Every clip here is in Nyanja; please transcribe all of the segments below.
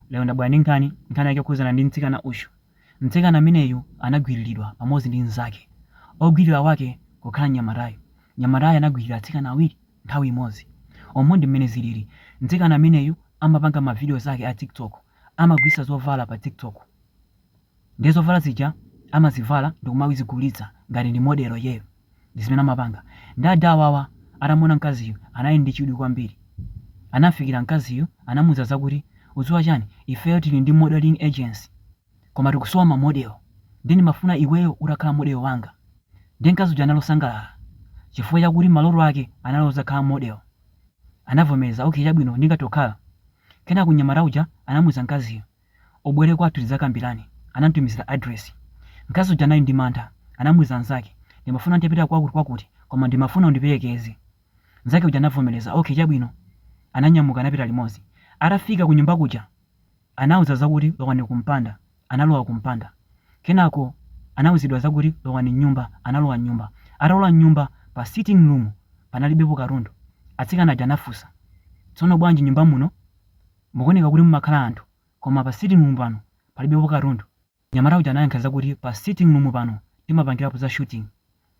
Lero ndabwera ndi nkhani. Nkhani yake ikukhudzana ndi mtsikana uyu. Mtsikana ameneyu anagwiriridwa pamodzi ndi mnzake. Ogwirira wake kukhala mnyamatayu. Mnyamatayu anagwirira atsikana awiri nthawi imodzi. Umu ndi mmene ziliri. Mtsikana ameneyu amapanga mavidiyo zake a Tik Tok. Amagulitsa zovala pa Tik Tok. Ndiye zovala zija amazivala ndikumazigulitsa ngati ndi model iyeyo ndi zimene amapanga. Ndiye ada awawa atamuona mkaziyu anali ndi chidwi kwambiri. Anamfikira mkaziyu anamuuza zakuti udziwa chani ifeyo tili ndi modeling agency koma tikusowa ma model ndiye ndimafuna iweyo utakhala model wanga. Ndiye mkazi uja anali osangalala chifukwa chakuti maloto ake anali ozakhala model. Anavomereza okay chabwino ndingathe kukhala. Kenako mnyamata uja anamuuza mkaziyu Ubwere kwathu tidzakambirane. Anamtumizira address. Mkazi uja anali ndi mantha. Anamuuza mnzake, Ndimafuna ntapita kwakutikwakuti, koma ndimafuna undiperekeze. Mnzake uja anavomereza, Ok, chabwino. Ananyamuka anapita limodzi. Atafika kunyumba kuja, anawauza zakuti lowani kumpanda. Analowa kumpanda. Kenako anauzidwa zakuti lowani m'nyumba. Analowa m'nyumba. Atalowa m'nyumba, pa sitting room panalibepo katundu. Atsikana aja anafunsa, Tsono bwanji nyumba muno? Mukuoneka kuti mumakhala anthu koma pa sitting room pano palibepo katundu. Mnyamata uja anayankha zakuti pa sitting room pano timapangirapo za shooting.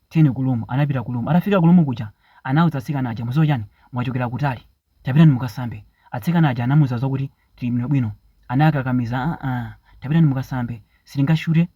Tiyeni ku room. Anapita ku room. Atafika ku room kuja anauza atsikana aja muziwa chani? Mwachokera kutali. Tapitani mukasambe. Atsikana aja anamuuza zakuti tili bwinobwino. Anawakakamiza aah tapitani mukasambe. Sitingashute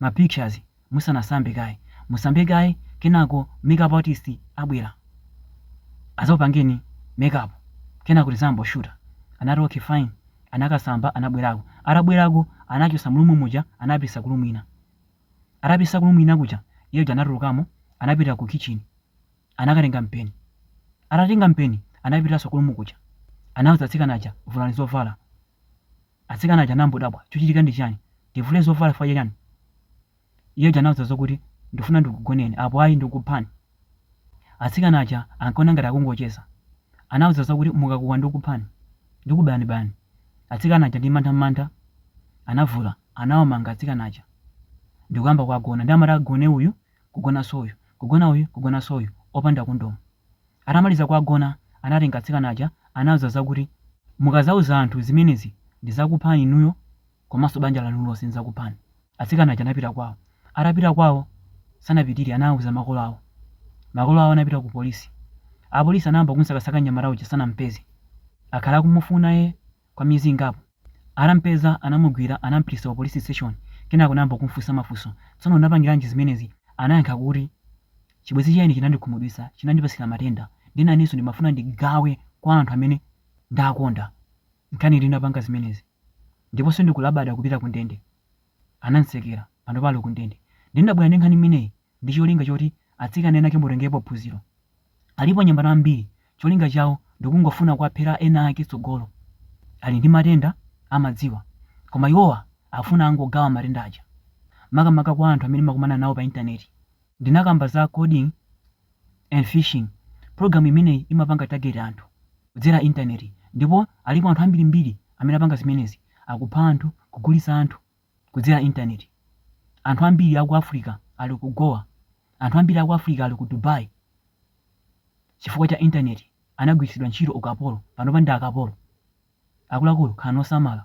ma pictures musanasambe kaye musambe kaye kenako makeup artist abwera azakupangeni makeup kenako tiziyambano shuta anati okay fine anakasamba anabwerako atabwerako anawachosa mu room muja anawapitisa ku room ina atawapitisa ku room ina kuja iye uja anatulukamo anapita ku kitchen anakatenga mpeni atatenga mpeni anapitaso ku room kuja anauza atsikana aja vulani zovala Atsikana aja anangodabwa, Chikuchitika ndi chani? Tivule zovala chifukwa cha chani? Iye uja anawauza zokuti, Ndifuna ndikugoneni, apo ayi ndikuphani. Atsikana aja ankaona ngati akungocheza. Anawauza zakuti, Mukakuwa ndikuphani. Ndikubayani bayani. Atsikana aja ndi mantha mantha anavula, anawamanga atsikana aja ndikuyamba kuwagona. Ndiye amati agone uyu, kugonanso uyu, kugona uyu, kugonanso uyu, opanda kondomu. Atamaliza kuwagona anatenga atsikana aja anawauza zakuti mukazauza anthu zimenezi ndizakuphani inuyo komanso banja lanu lonse ndidzakuphani. Atsikana aja anapita kwawo. Atapita kwawo sanapitire anauza makolo awo. Makolo awo anapita ku polisi. Apolisi anayamba kumusakasaka mnyamata uja sanamupeze. Akhala akumufuna ee. Kwa miyezi ingapo, atampeza anamugwira anampititsa ku police station kenako anayamba kumfunsa mafunso, tsono unapangilanji zimenezi? Anayankha kuti chibwenzi cha ine chinandikhumudwitsa, chinandipatsira matenda ndiye nanenso ndimafuna ndigawe kwa anthu amene ndakonda nchani ndinapanga zimenezi ndipo sindikulabada kupita kundende. anamtsekera panopa ali kundende ndiye ndabwera ndi nkhani imeneyi ndi cholinga choti atsikana enake mutengepo phunziro alipo anyamata ambiri cholinga chawo ndikungofuna kuwaphera ena ake tsogolo ali ndi matenda amadziwa koma iwowa akufuna kungogawa matenda aja makamaka kwa anthu amene mumakumana nawo pa intaneti ndinakamba za coding and phishing. Program imeneyi imapanga target anthu kudzera internet ndipo alipo anthu ambirimbiri amene apanga zimenezi. Akupha anthu, kugulitsa anthu kudzera internet. Anthu ambiri aku Africa ali ku Goa. Anthu ambiri aku Africa ali ku Dubai chifukwa cha internet anagwiritsidwa ntchito yaukapolo, panopa ndi akapolo. Akuluakulu khalani osamala